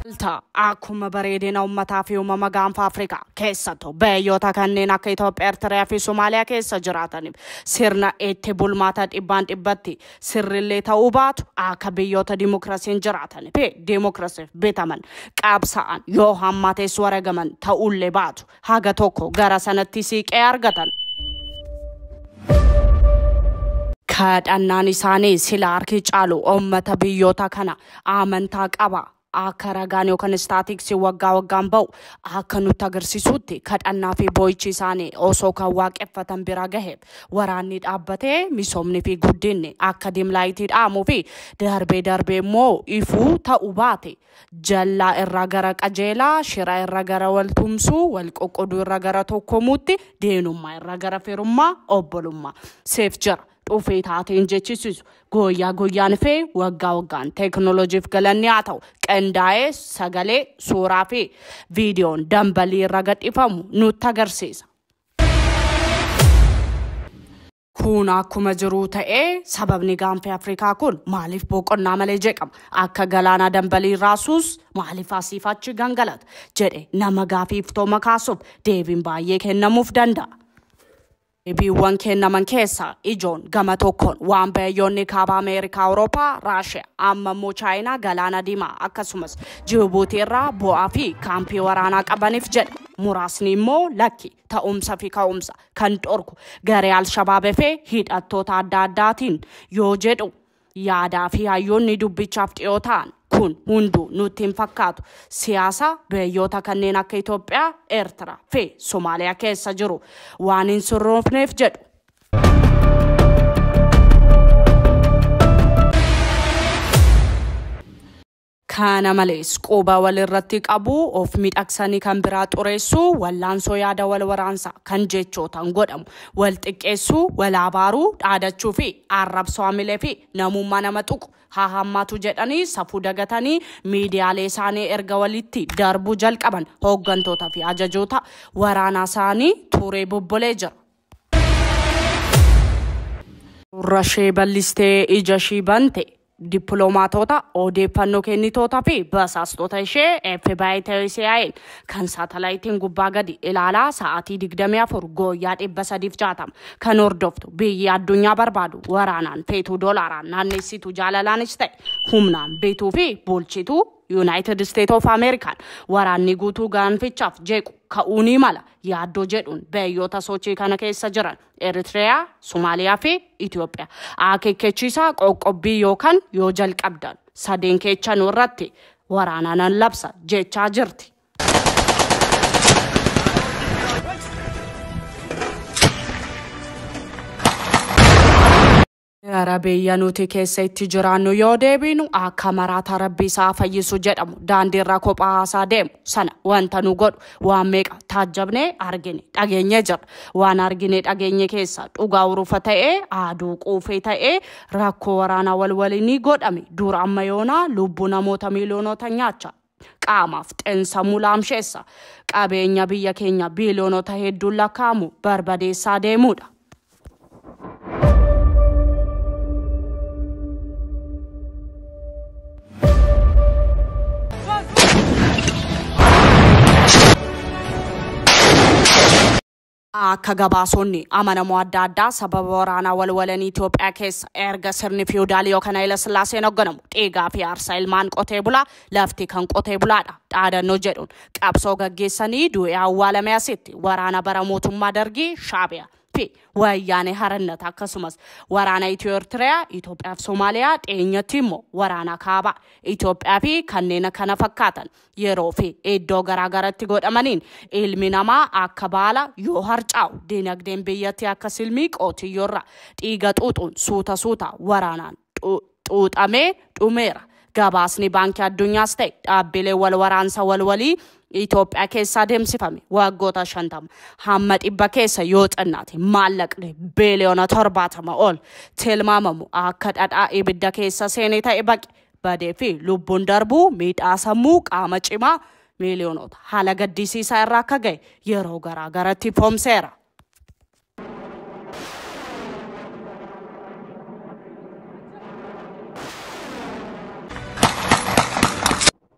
Malta akkuma bareedina ummataa fi uumama gaanfa Afrikaa keessattuu biyyoota kanneen akka Itoophiyaa, Eertiraa fi Somaaliyaa keessa jiraataniif sirna itti bulmaata dhibbaan dhibbatti Sirrillee ta'uu baatu akka biyyoota dimokirasiin jiraatan fi dimokirasiif bitaman, qabsa'an, yoo hammaatees waragaman ta'uullee baatu haga tokko gara sanatti siiqee argatan. Kadhannaan isaanii sila harki caalu ummata biyyoota kana amantaa qaba, akka ragaan yookaan istaatiksii waggaa waggaan ba'u akka nutti agarsiisutti kadhannaa fi boo'ichi isaanii osoo kan waaqeffatan bira gahe waraanni dhaabbatee misoomni fi guddinni akka dimlaayitii dhaamuu fi darbee darbee immoo ifuu ta'u baate jallaa irraa gara qajeelaa shira irra gara wal tumsuu wal qoqqoduu irra gara tokkomuutti deenummaa irra gara firummaa obbolummaa seef jira. dhufee taateen jechisiisu gooyyaa gooyyaan fi waggaa waggaan teeknooloojiif galanni haa ta'u qindaa'ee sagalee suuraa fi viidiyoon dambalii irra gadhiifamu nutti agarsiisa. Kun akkuma jiruu ta'ee sababni gaanfii Afrikaa kun maaliif boqonnaa malee jeeqama? Akka galaanaa dambalii raasuus maaliif asiif achi gangalata? jedhe nama gaafii iftooma kaasuuf deebiin baay'ee kennamuuf danda'a. Deebiiwwan kennaman keessaa ijoon gama tokkoon waan biyyoonni Kaaba Ameerikaa, Awurooppaa, Raashiyaa, amma immoo Chaayinaa Galaana Diimaa akkasumas Jibuutii irraa bu'aa fi kaampii waraanaa qabaniif jedha. Muraasni immoo lakki, ta'umsa fi ka'umsa kan dhorku garee Al-Shabaab fi hidhattoota adda addaatiin yoo jedhu. Yaadaa fi hayyoonni dubbichaaf dhiyoo ta'an kun hunduu nutti hin fakkaatu. Siyaasa biyyoota kanneen akka Itoophiyaa, Eertira fi Somaaliyaa keessa jiru waan hin surroofneef jedhu. Kana malees, quba wal irratti qabuu, of midhagsanii kan biraa xureessuu, wallaansoo yaada wal waraansaa kan jechootaan godhamu, wal xiqqeessuu, wal abaaruu, dhaadachuu fi arrabsoo hamilee fi namummaa nama tuqu haa hammaatu jedhanii safuu dagatanii miidiyaalee isaanii erga walitti darbuu jalqaban hooggantoota fi ajajoota waraanaa isaanii tuuree bubbulee jira. Gurra ishee bal'istee ija ishii bante. Dippilomaatoota, odeeffannoo kennitoota fi basaastota ishee FBI ta'ee CIA'n kan saatalaayitiin gubbaa gadi ilaalaa sa'aatii 24 gooyyaa 360 kan hordoftu biyyi addunyaa barbaadu waraanaan feetuu doolaaraan naannessitu jaalalaanis ta'e humnaan bituu fi bulchitu Yuunaayitid Isteet of Ameerikaan waraanni guutuu gaanfichaaf jeequ ka'uu ni mala yaaddoo jedhuun biyyoota sochii kana keessa jiran Eritreyaa, Somaaliyaa fi Itoophiyaa. Akeekkachiisaa qoqqobbii yookaan yoo jalqabdan sadeen keechanuu irratti waraanaa nan labsa jechaa jirti. Gara biyya nuti keessa itti jiraannu yoo deebiinu akka maraataa rabbi isaa fayyisu jedhamu daandiirra kophaa haasaa deemu sana wanta nu godhu waan meeqa taajjabnee argine dhageenye jirra. Waan argine dhageenye keessa dhugaa urufa ta'ee aaduu quufee ta'ee rakkoo waraanaa wal waliinii godhame duur amma yoonaa lubbuu namoota miiliyoonota nyaachaa Qaamaaf xin-sammuu laamsheessa. Qabeenya biyya keenya biiliyoonota hedduun lakkaa'amu barbadeessaa deemuudha. Akka gabaasoonni amanamoo adda addaa sababa waraanaa walwalanii Itoophiyaa keessa erga sirni fiiwudaalii yookaan Hayila Sillaaseen hogganamu dhiigaa fi aarsaa ilmaan qotee bulaa lafti kan qotee bulaadha dhaadannoo jedhuun qabsoo gaggeessanii du'ee awwaalame asitti waraana bara mootummaa Dargii Shaabiyaa fi Wayyaanee Harannat akkasumas waraana Itiyoo Ertiriyaa Itoophiyaa fi Somaaliyaa dhiyeenyatti immoo waraana kaabaa Itoophiyaa fi kanneen kana fakkaatan yeroo fi iddoo garaagaratti godhamaniin ilmi namaa akka baala yoo harcaa'u dinagdeen biyyatti akka silmii qootiyyoorra dhiiga xuuxuun suuta suuta waraanaan xuuxamee dhumeera. Gabaasni baankii addunyaas ta'e dhaabbilee wal waraansa walwalii Itoophiyaa keessa adeemsifame waggoota shantama hamma dhibba keessa yoo xinnaate maallaqni beeliyoona torbaatama ol tilmaamamu akka dhadhaa ibidda keessa seene ta'e baqe. badee fi lubbuun darbuu miidhaa sammuu qaama cimaa miiliyoonota haala gaddisiisaa irra akka ga'e yeroo garaa garatti ifoomseera.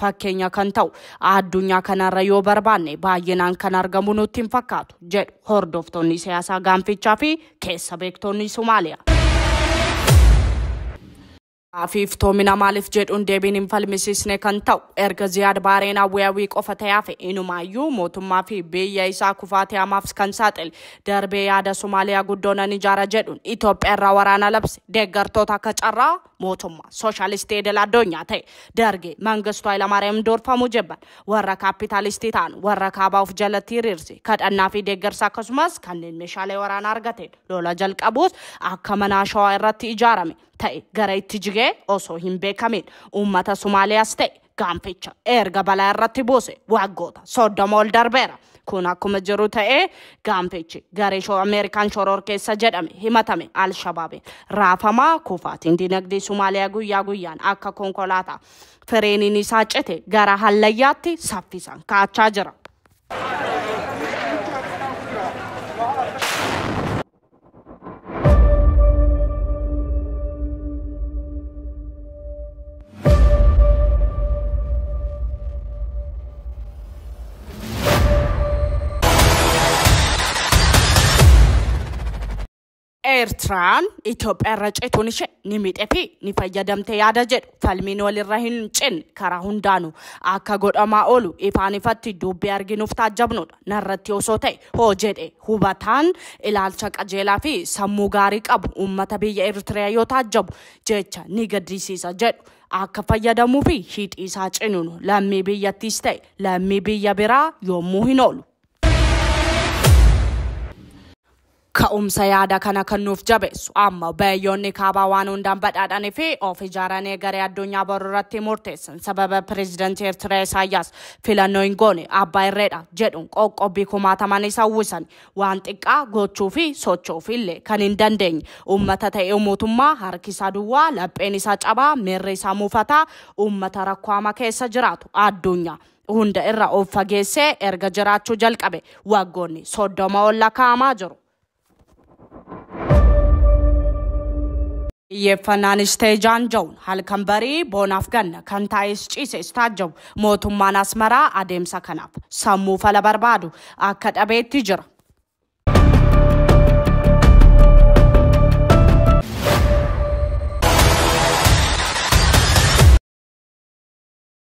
fakkeenya kan ta'u addunyaa kanarra yoo barbaanne baay'inaan kan argamu nutti hin fakkaatu jedhu hordoftoonni siyaasaa gaanfichaa fi keessa beektoonni Somaaliyaa. fi iftoomina maaliif jedhuun deebiin hin falmisiisne kan ta'u erga ziyaad baareen awweewii qofa ta'eef inumaayyuu mootummaa fi biyya isaa kufaatii hamaaf kan saaxile darbee yaada somaaliyaa guddoonan ijaara jedhuun itoophiyaa irraa waraana labse deeggartoota akka carraa mootummaa sooshaalistii idil addunyaa ta'e dargii mangistu Hayilamaariyaam durfamu jibban warra kaapitaalistii ta'an warra kaabaa of jalatti hiriirse kadhannaa fi deeggarsa akkasumas kanneen meeshaalee waraanaa argateen lola jalqabuus akka manaa shawaa irratti ijaarame ta'e gara itti jigee osoo hin beekamiin uummata Somaaliyaas ta'e Gaanficha erga balaa irratti buuse waggoota soddoma ol darbeera. Kun akkuma jiru ta'ee gaanfichi garee shoo Ameerikaan shororkeessa jedhame himatame Alshabaabiin raafamaa kufaatiin dinagdee Somaaliyaa guyyaa guyyaan akka konkolaataa fireeniin isaa cite gara hallayyaatti saffisaan kaachaa jira. Eertiraan Itoophiyaa irra ceetuun ishee ni miidhee fi ni fayyadamte yaada jedhu falmiin walirra hin cinne karaa hundaanu akka godhamaa oolu ifaan ifatti dubbii arginuuf taajjabnudha. narratti osoo ta'e hoo jedhe hubataan ilaalcha qajeelaa fi sammuu gaarii qabu uummata biyya Eritrea yoo taajjabu jecha ni gadisiisa jedhu akka fayyadamuu fi hidhii isaa cinunu lammii biyyattiis ta'e lammii biyya biraa yommuu hin oolu. Ka'umsa yaada kana kan nuuf jabeessu ammo bayyoonni kaabaa waan hundaan badhaadhanii fi of ijaaranii egeree addunyaa boru irratti murteessan sababa pirezidantii Ertiraa Isaayyaas filannoo hin goone abbaa irree dha jedhuun qoqqobbii kumaatamaan isa uwwisani waan xiqqaa gochuu fi socho'uuf illee kan hin dandeenye uummata ta'ee mootummaa harki isaa duwwaa, lapheen isaa cabaa, miirri isaa muufataa uummata rakkoo hamaa keessa jiraatu addunyaa. hunda irra of fageessee erga jiraachuu jalqabe waggoonni soddoma ol lakkaa'amaa jiru. Xiyyeeffannaanis ta'e jaanja'uun halkan barii boonaaf ganna kan taa'es ciises taajjabu mootummaan Asmaraa adeemsa kanaaf sammuu fala barbaadu akka dhabeetti jira.